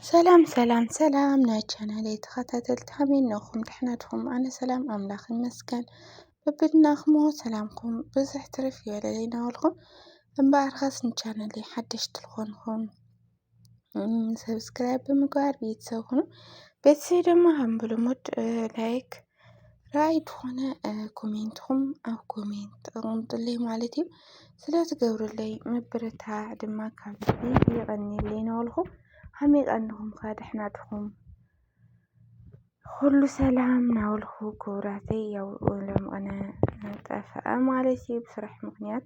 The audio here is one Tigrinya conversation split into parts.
ሰላም ሰላም ሰላም ናይ ቻናል ተኸታተልቲ ከመይ ነኹም? ደሕና ድኹም? ኣነ ሰላም ኣምላኽ ይመስገን። በብድናኹም ሰላምኩም ብዙሕ ትርፍ ይበለለይ እናበልኩም እምበኣር ኸስ ንቻናለይ ሓደሽቲ ዝኾንኩም ሰብስክራይብ ብምግባር ቤተሰብ ሁኑ። ቤተሰብ ድማ ከም ብልሙድ ላይክ፣ ራእይ ትኾነ ኮሜንትኹም ኣብ ኮሜንት ተቐምጡለይ ማለት እዩ ስለ ትገብሩለይ ምብርታዕ ድማ ካብ ልቢ ይቐኒለይ ናበልኩ ሓሚቐ እንኹም ከ ደሕና ድኹም ሁሉ ሰላም ናበልኩ ክቡራተይ ያው ለምቕነ ጠፍአ ማለት እዩ ብስራሕ ምክንያት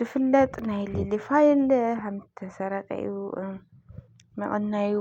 ድፍለጥ ናይ ሊሊ ፋይል ሃምተሰረቀ እዩ መቐናዩ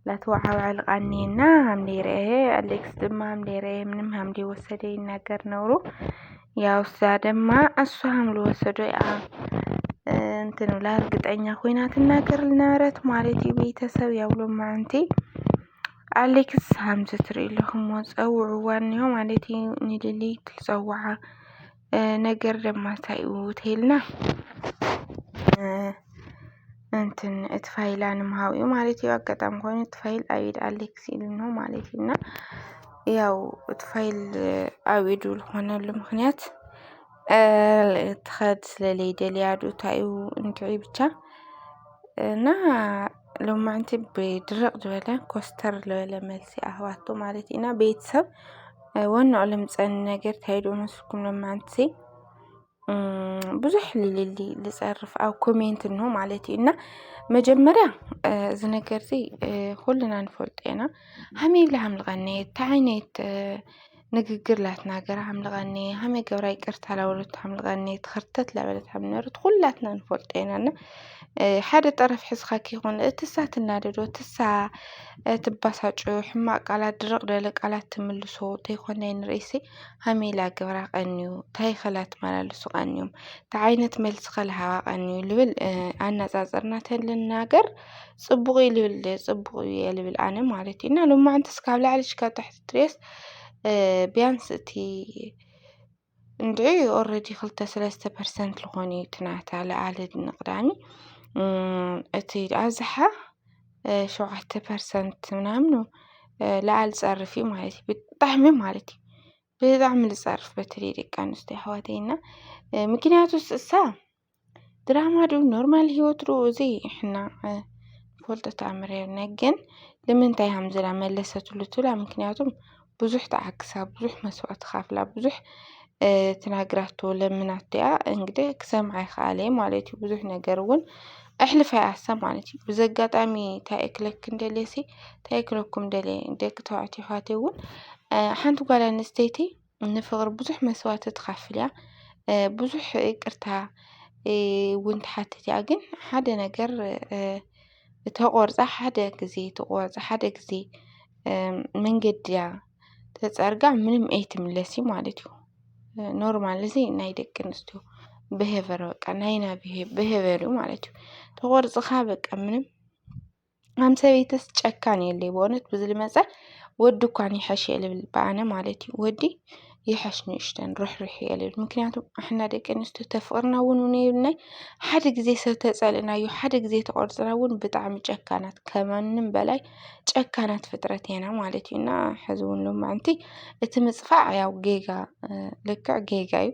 ላተዋዓውዐል ቃኔና ሃምደይረኤ ኣሌክስ ድማ ሃምደይረኤ ምንም ሃምደይ ወሰደ ይናገር ነውሩ ያው እዛ ደማ እሱ ሃምሉ ወሰዶ ያ እንትን ብላ እርግጠኛ ኮይና ትናገር ልነበረት ማለት እዩ ቤተሰብ ያው ሎማዓንቲ ኣሌክስ ሃምዚ ትርኢ ኣለኹም ፀውዕዋ እኒሆ ማለት እዩ ንሊሊ ትፀዋዓ ነገር ደማ እንታይ እዩ ተይልና እንትን እቲ ፋይላ ንምሃብ እዩ ማለት እዩ። ኣጋጣሚ ኮይኑ እቲ ፋይል ኣብ ኢድ ኣሌክስ ኢሉ ነው ማለት እዩ። እና ያው እቲ ፋይል ኣብ ኢዱ ዝኾነሉ ምክንያት ትኸድ ስለለይደልያ ዶ እንታይ እዩ እንድዒ ብቻ እና ሎማዕንቲ ብድርቕ ዝበለ ኮስተር ዝበለ መልሲ ኣህባቶ ማለት ኢና ቤተሰብ ወንኦ ልምፀኒ ነገር ታይዶ መስኩም ሎማዕንቲ ብዙሕ ልልሊ ልጸርፍ ኣብ ኮሜንት እንሆ ማለት እዩ እና መጀመርያ እዚ ነገር እዚ ኩልና ንፈልጦ ኢና ሃመይብላ ሃምልቐኒ እታ ዓይነት ንግግር ላትናገር ሓምልቐኒ ሃመይ ገብራ ይቅርታ ላበለቶ ሓምልቐኒ ትኸርተት ላበለት ሓምነርት ኩላትና ንፈልጦ ኢና እና ሓደ ጠረፍ ሕዝካ ከይኮነ እቲ እሳ ትናደዶ እቲ እሳ ትባሳጮ ሕማቅ ቃላት ድርቅ ደለ ቃላት ትምልሶ ተይኮነ ንርእሲ ሃመይ ኢላ ገብራ ቀንዩ ታይ ከላ ትመላለሱ ቀንዮም ታይ ዓይነት መልሲ ከልሃባ ቀንዩ ልብል ኣነጻጽርና ተልናገር ጽቡቅ እዩ ልብል ጽቡቅ እየ ልብል ኣነ ማለት እዩ እና ሎማዓንቲ እስካብ ላዕሊ ሽካብ ታሕቲ ድሬስ ቢያንስ እቲ እንድዒ ኦረዲ ክልተ ሰለስተ ፐርሰንት ልኾኑ እዩ እቲ ናታ ልኣሊ ንቕዳሚ እቲ ኣዝሓ ሸውዓተ ፐርሰንት ምናምን ልኣል ጸርፊ ማለት እዩ ብጣዕሚ ማለት እዩ ብጣዕሚ ልጸርፍ በተለይ ደቂ ኣንስትዮ ኣሕዋተይ እና ምክንያቱ እሳ ድራማ ዶ ኖርማል ሂወት ዶ ዘይሕናቕ ንፈልጦ ተኣምር የብልናን ግን ንምንታይ ሃምዝላ መለሰትሉ ትብላ ምኽንያቱም ብዙሕ ተዓግሳ ብዙሕ መስዋእቲ ከፍላ ብዙሕ ተናግራቶ ለሚናቶ እያ እንግዲህ ክሰምዓ ይክኣለ እየ ማለት እዩ ብዙሕ ነገር እውን ኣሕሊፋ እያ እሳ ማለት እዩ በዚ ኣጋጣሚ እንታይ እየ ክብለኪ ደልየ እሲ እንታይ እየ ክብለኩም ደልየ ደቂ ተባዕትዮ ኣሕዋተይ እውን ሓንቲ ጓል ኣንስተይቲ ንፍቕሪ ብዙሕ መስዋእቲ ትኸፍል እያ። ብዙሕ ይቅርታ እውን ትሓትት እያ። ግን ሓደ ነገር ተቖርፃ ሓደ ጊዜ ተቖርፃ ሓደ ጊዜ መንገዲ እያ ተፀርጋ ምንም ኣይትምለስ እዩ ማለት እዩ። ኖርማል እዚ ናይ ደቂ ኣንስትዮ ብሄቨር በቃ ናይና ብሄቨር እዩ ማለት እዩ። ተቖርፅኻ በቃ ምንም ኣም ሰበይትስ ጨካን የለይ ብእውነት ብዚ ልመፀ ወዲ እኳን ይሐሽ እየ ልብል ብኣነ ማለት እዩ ወዲ ይሐሽ ንእሽተን ርሕርሕ እየ ልብል ምክንያቱ ኣሕና ደቂ ኣንስትዮ ተፍቕርና እውን ነብናይ ሓደ ግዜ ሰብ ተፀልእናዮ ሓደ ግዜ ተቆርፅና እውን ብጣዕሚ ጨካናት ከማንም በላይ ጨካናት ፍጥረት ኢና ማለት እዩ እና ሕዚ እውን ሎማዕንቲ እቲ ምፅፋዕ ያው ጌጋ ልክዕ ጌጋ እዩ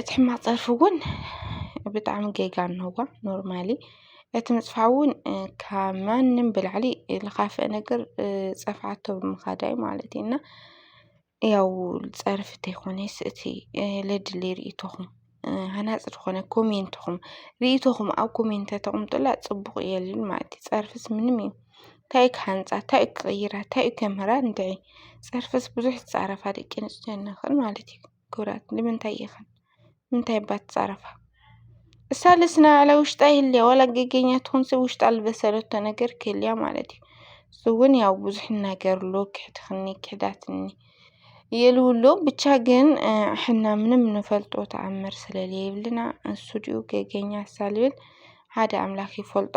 እቲ ሕማቅ ፀርፊ እውን ብጣዕሚ ጌጋ እንሆ ኖርማሊ እቲ ምፅፋፍ እውን ካብ ማንም ብላዕሊ ልኻፍእ ነገር ፀፍዓቶ ብምኻድ እዩ ማለት እዩ። እና ያው ፀርፊ ተይኮነስ እቲ ለድሊ ሪኢቶኹም ሃናፂ ዝኾነ ኮሜንትኹም ሪኢቶኹም ኣብ ኮሜንት ተተቅምጡላ ፅቡቅ እዩ እልል ማለት እዩ። ፀርፍስ ምንም እዩ ታይ እዩ ክሃንፃ ታይ እዩ ክቅይራ ታይ እዩ ከምህራ ንድዒ ፀርፍስ ብዙሕ ዝፃረፋ ደቂ ኣንስትዮ ንኽእል ማለት እዩ። ክብራት ንምንታይ ኢኽን ንምንታይ እባ ትጻረፋ? እሳ ልስና ዕለ ውሽጣ ይህልያ ዋላ ገገኛ ትኹን ሰብ ውሽጣ ልበሰለቶ ነገር ክህልያ ማለት እዩ። እሱ እውን ያው ብዙሕ ይናገርሉ ክሕድኽኒ ክሕዳትኒ የልውሎ ብቻ ግን ሕና ምንም ንፈልጦ ተኣምር ስለለየብልና እሱ ድኡ ገገኛ ሳልብል ሓደ ኣምላኽ ይፈልጦ።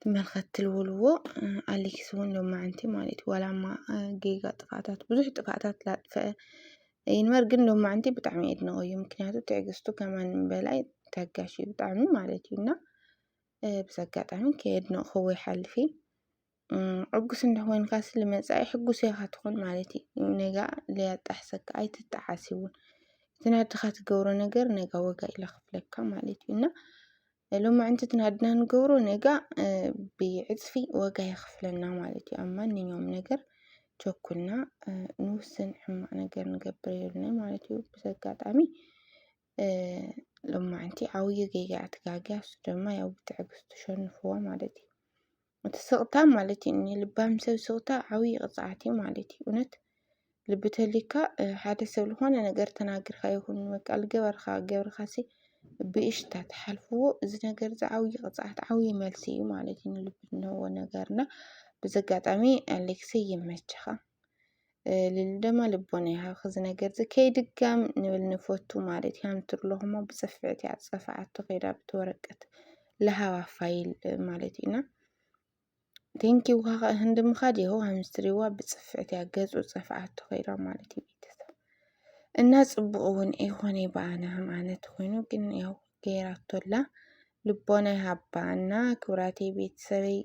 ትመልከት ትልውልዎ ኣሊክስ እውን ሎማዓንቲ ማለት እዩ ዋላ እማ ጌጋ ጥፍኣታት ብዙሕ ጥፍኣታት ላጥፍአ ይንበር ግን ሎማዓንቲ ብጣዕሚ የድንቆ እዩ ምክንያቱ ትዕግስቱ ከማንም በላይ ታጋሽ እዩ ብጣዕሚ ማለት እዩ እና ብዚ ኣጋጣሚ ከየድነቅክዎ ይሓልፍ እዪ። ዕጉስ እንተኾይንካሲ ልመጻኢ ሕጉስ ኢኻ ትኾን ማለት እዩ ነጋ ለያጣሕሰካ ኣይትጠዓስ እውን እቲ ናድኻ ትገብሮ ነገር ነጋ ወጋ ኢለ ክፍለካ ማለት እዩ እና ሎማዕንቲ እቲ ናድና ንገብሮ ነጋ ብዕፅፊ ወጋ የኽፍለና ማለት እዩ ኣብ ማንኛውም ነገር ቸኩልና ንውስን ሕማቅ ነገር ንገብር የብልና ማለት እዩ ብዚ ኣጋጣሚ ሎማዕንቲ ዓብዩ ጌጋ እያ ትጋግያ እሱ ድማ ያው ብትዕግስቲ ሸንፍዋ ማለት እዩ እቲ ስቕታ ማለት እዩ እኒ ልባም ሰብ ስቕታ ዓብዪ ቅፅዓት እዩ ማለት እዩ እውነት ልቢ ተልካ ሓደ ሰብ ዝኾነ ነገር ተናግርካ ይኹን በቃ ልገበርካ ገብርካ ሲ ብእሽታ ተሓልፍዎ እዚ ነገር እዚ ዓብዪ ቅፅዓት ዓብዪ መልሲ እዩ ማለት እዩ ንልቢ እንህቦ ነገርና ብዚ ኣጋጣሚ ኣሌክሰይ ይመችኻ ልል ደማ ልቦና ይሃብኺ እዚ ነገር እዚ ከይድጋም ንብል ንፈቱ ማለት እያ እንትርለኹ እሞ ብፅፍዕት እያ ፀፋዓቶ ከይዳ ብቲ ወረቀት ለሃባ ፋይል ማለት እዩና ቴንኪ ውሃ ህንዲ ምኻድ ይኸው ሃምስትሪዋ ብፅፍዕት እያ ገፁ ፀፋዓቶ ከይዳ ማለት እዩ ቤተሰብ እና ፅቡቅ እውን ይኾነ በኣነ ከም ኣነት ኮይኑ ግን ያው ገይራቶላ ልቦና ይሃባ እና ክብራቴ ቤተሰበይ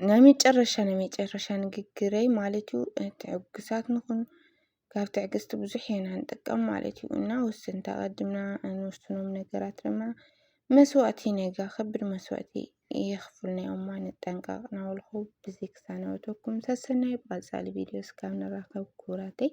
ናይ መጨረሻ ናይ መጨረሻ ንግግረይ ማለት እዩ ትዕግሳት ንኹን ካብ ትዕግስቲ ብዙሕ ኢና ንጥቀም ማለት እዩ እና ውስን ተቐድምና እንውስኖም ነገራት ድማ መስዋእቲ ነጋ ከብድ መስዋእቲ የኽፍልና እዮማ ንጠንቀቕ ናበልኹ ብዚ ክሳነወተኩም ሰሰናይ ብቐፃሊ ቪድዮ እስካብ ንራኸብ ክቡራተይ